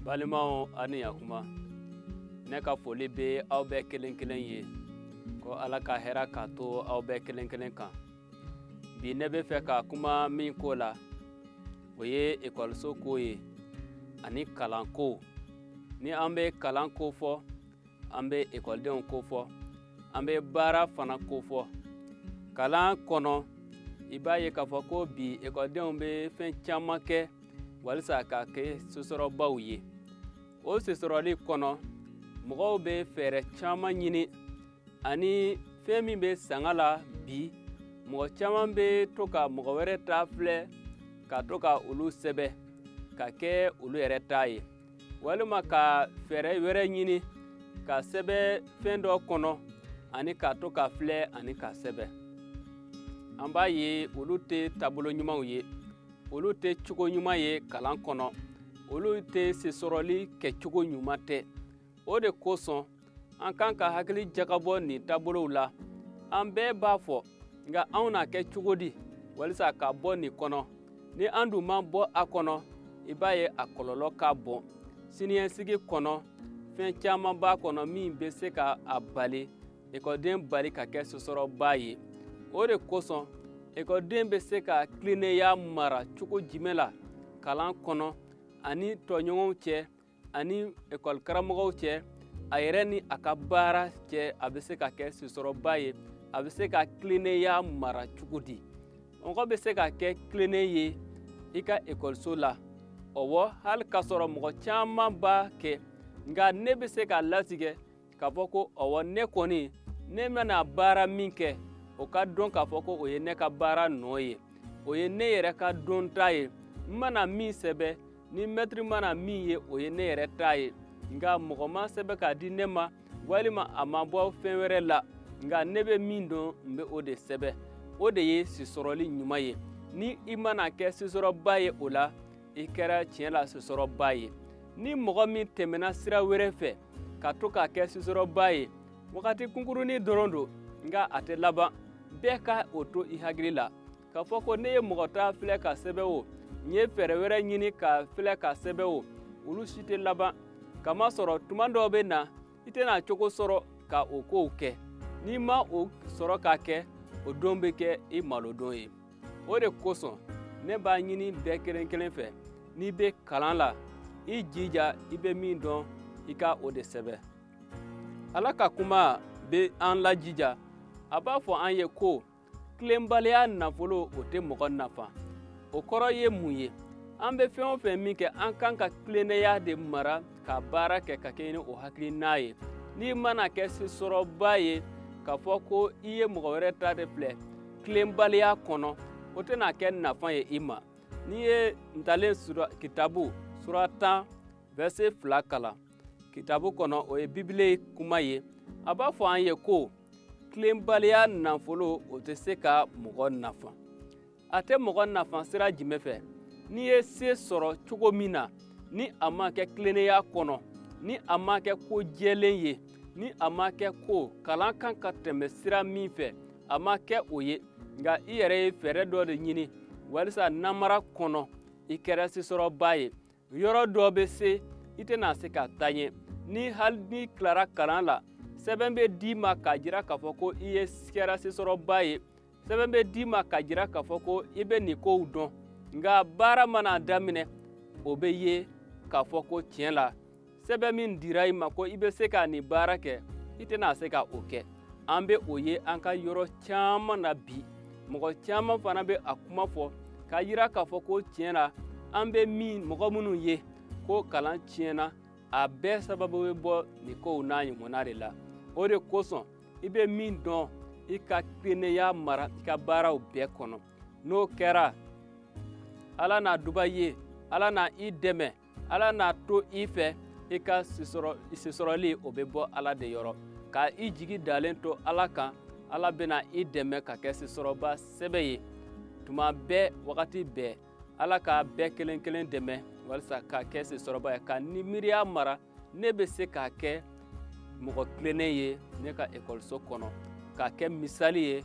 balimaw a ni yakuma ne ka foli bɛ aw bɛɛ kelen kelen ye ko ala ka hɛra ka to aw bɛɛ kelen kelen kan bi ne bɛ fɛ ka kuma min ko la o ye ekɔliso ko ye ani kalanko ni an bɛ kalanko fɔ an bɛ ekɔlidenw ko fɔ an bɛ baara fana ko fɔ kalan kɔnɔ i b'a ye k'a fɔ ko bi ekɔlidenw bɛ fɛn caman kɛ walisa ka kɛ sesɔrɔbaw ye o sesɔrɔli kɔnɔ mɔgɔw bɛ fɛɛrɛ caman ɲini ani fɛn min bɛ sanga la bi mɔgɔ caman bɛ to ka mɔgɔ wɛrɛ ta filɛ ka to ka olu sɛbɛ ka kɛ olu yɛrɛ ta ye walima ka fɛɛrɛ wɛrɛ ɲini ka sɛbɛ fɛn dɔ kɔnɔ ani ka to ka filɛ ani ka sɛbɛ an b'a ye olu tɛ taabolo ɲumanw ye olu tɛ cogo ɲuman ye kalan kɔnɔ olu tɛ sesɔrɔli kɛcogo ɲuman tɛ o de kosɔn an kan ka hakili jagabɔ nin taabolow la an bɛɛ b'a fɔ nka anw n'a kɛ cogo di walisa ka bɔ nin kɔnɔ ni an dun ma bɔ a kɔnɔ i b'a ye a kɔlɔlɔ ka bon siniɲɛsigi kɔnɔ fɛn caman b'a kɔnɔ min bɛ se ka a bali ekɔliden bali ka kɛ sesɔrɔba ye o de kosɔn ekɔliden bɛ se ka tilennenya mara cogo jumɛn la kalan kɔnɔ ani tɔɲɔgɔnw cɛ ani ekɔli karamɔgɔw cɛ a yɛrɛ ni a ka baara cɛ a bɛ se ka kɛ sesɔrɔba ye a bɛ se ka tilennenya mara cogo di mɔgɔ bɛ se ka kɛ tilennen ye i ka ekɔliso la ɔwɔ hali k'a sɔrɔ mɔgɔ caman b'a kɛ nka ne bɛ se k'a latigɛ k'a fɔ ko ɔwɔ ne kɔni ne mana baara min kɛ o ka dɔn k'a fɔ ko o ye ne ka baara nɔ ye o ye ne yɛrɛ ka dɔnta ye n mana min sɛbɛ ni mɛtiri mana min ye o ye ne yɛrɛ ta ye nka mɔgɔ ma sɛbɛ k'a di ne ma walima a ma bɔ fɛn wɛrɛ la nka ne bɛ min dɔn n bɛ o de sɛbɛ o de ye sesɔrɔli ɲuman ye ni i mana kɛ sesɔrɔba ye o la i kɛra tiɲɛ la sesɔrɔba ye ni mɔgɔ min tɛmɛna sira wɛrɛ fɛ ka to ka kɛ sesɔrɔba ye wagati kunkurunin dɔrɔn don nka a tɛ laban bɛɛ ka o to i hakili la k'a fɔ ko ne ye mɔgɔ ta filɛ ka sɛbɛ o n ye fɛɛrɛ wɛrɛ ɲini ka filɛ ka sɛbɛ o olu si tɛ laban kamasɔrɔ tuma dɔw bɛ na i tɛna cogo sɔrɔ ka o kow kɛ n'i ma o sɔrɔ k'a kɛ o don bɛ kɛ i malodon ye o de kosɔn ne b'a ɲini bɛɛ kelen kelen fɛ n'i bɛ kalan la i jija i bɛ min dɔn i ka o de sɛbɛn ala ka kuma bɛ an lajija a b'a fɔ an ye ko tilenbaliya nafolo o tɛ mɔgɔ nafa o kɔrɔ ye mun ye an bɛ fɛn o fɛn min kɛ an kan ka tilennenya de mara ka baara kɛ ka kɛɲɛ ni o hakilina ye n'i mana kɛ sesɔrɔba ye k'a fɔ ko i ye mɔgɔ wɛrɛ ta de filɛ tilenbaliya kɔnɔ o tɛna kɛ nafa ye i ma n'i ye ntalen kitabu sura tan vɛrse fila kalan kitabu kɔnɔ o ye bibile kuma ye a b'a fɔ an ye ko tilenbaliya nafolo o tɛ se ka mɔgɔ nafa a tɛ mɔgɔ nafa sira jumɛn fɛ n'i ye se sɔrɔ cogo min na ni a ma kɛ tilennenya kɔnɔ ni a ma kɛ ko jɛlen ye ni a ma kɛ ko kalan kan ka tɛmɛ sira min fɛ a ma kɛ o ye nka i yɛrɛ ye fɛɛrɛ dɔ de ɲini walisa namara kɔnɔ i kɛra sesɔrɔba ye yɔrɔ dɔ bɛ se i tɛna se ka taa ɲɛ ni hali n'i tilara kalan la sɛbɛn bɛ d'i ma k'a jira k'a fɔ ko i ye kɛra sesɔrɔba ye sɛbɛn bɛ d'i ma k'a jira k'a fɔ ko i bɛ nin kow dɔn nka baara mana daminɛ o bɛ ye k'a fɔ ko tiɲɛ la sɛbɛn min dira i ma ko i bɛ se ka nin baara kɛ i tɛna se ka o kɛ an bɛ o ye an ka yɔrɔ caman na bi mɔgɔ caman fana bɛ a kuma fɔ k'a yira k'a fɔ ko tiɲɛ na an bɛ min mɔgɔ minnu ye ko kalan tiɲɛna a bɛɛ sababu bɛ bɔ nin kow n'a ɲɔgɔnna de la o de kosɔn i bɛ min dɔn i ka tilennenya mara i ka baaraw bɛɛ kɔnɔ n'o kɛra ala na duba i ye ala na i dɛmɛ ala n'a to i fɛ i ka sesɔrɔli o bɛ bɔ ala de yɔrɔ ka i jigi dalen to ala kan ala bɛna i dɛmɛ ka kɛ sesɔrɔba sɛbɛ ye tuma bɛɛ wagati bɛɛ ala ka bɛɛ kelen kelen dɛmɛ walisa ka kɛ sesɔrɔba ye ka nin miiriya mara ne bɛ se ka kɛ mɔgɔ tilennen ye ne ka ekɔliso kɔnɔ ka kɛ misali ye